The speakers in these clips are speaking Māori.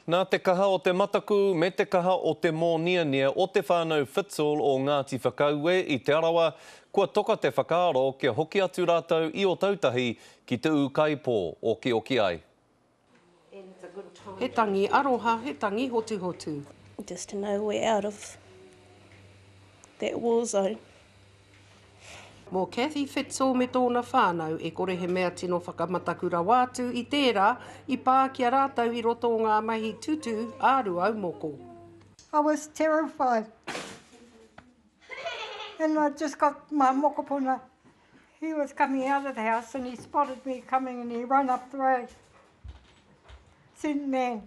Nā te kaha o te mataku me te kaha o te mōniania o Te Whānau Whitzel o Ngāti Whakaue i Te Arawa, kua toka te whakaaro kia hoki atu rātou i Otautahi ki te ūkaipō, okioki ai. He tangi aroha, he tangi hotuhotu. Just to know we're out of that war zone. Mō Cathy Fitzel me tōna whānau, e kore he mea tino whakamataku rawa atu i tērā i pā ki a rātou i roto o ngā mahi tutū a Ruau Moko. I was terrified and I just got my mokopuna, he was coming out of the house and he spotted me coming and he ran up the road, sent man,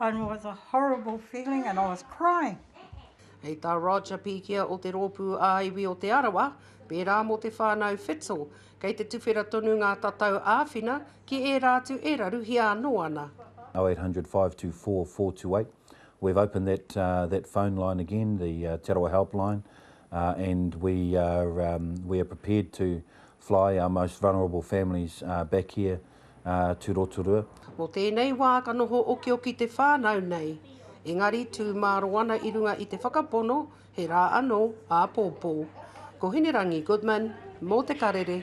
and was a horrible feeling and I was crying. Hei tā Roger Pikia o te Rōpū ā-Iwi o Te Arawa, pērā mō te whānau Fitzel, kei te tuwhera tonu ngā tatau āwhina ki ērā atu e raruhia anō ana. 0800 524 428. We've opened that uh, that phone line again, the uh, Te Arawa helpline, uh, and we are um, we are prepared to fly our most vulnerable families uh, back here. tū rotorua. Mō tēnei wā ka noho okioki te whānau nei, engari tū māro ana i runga i te whakapono he rā anō āpōpō. Ko Hinerangi Goodman mō Te Karere.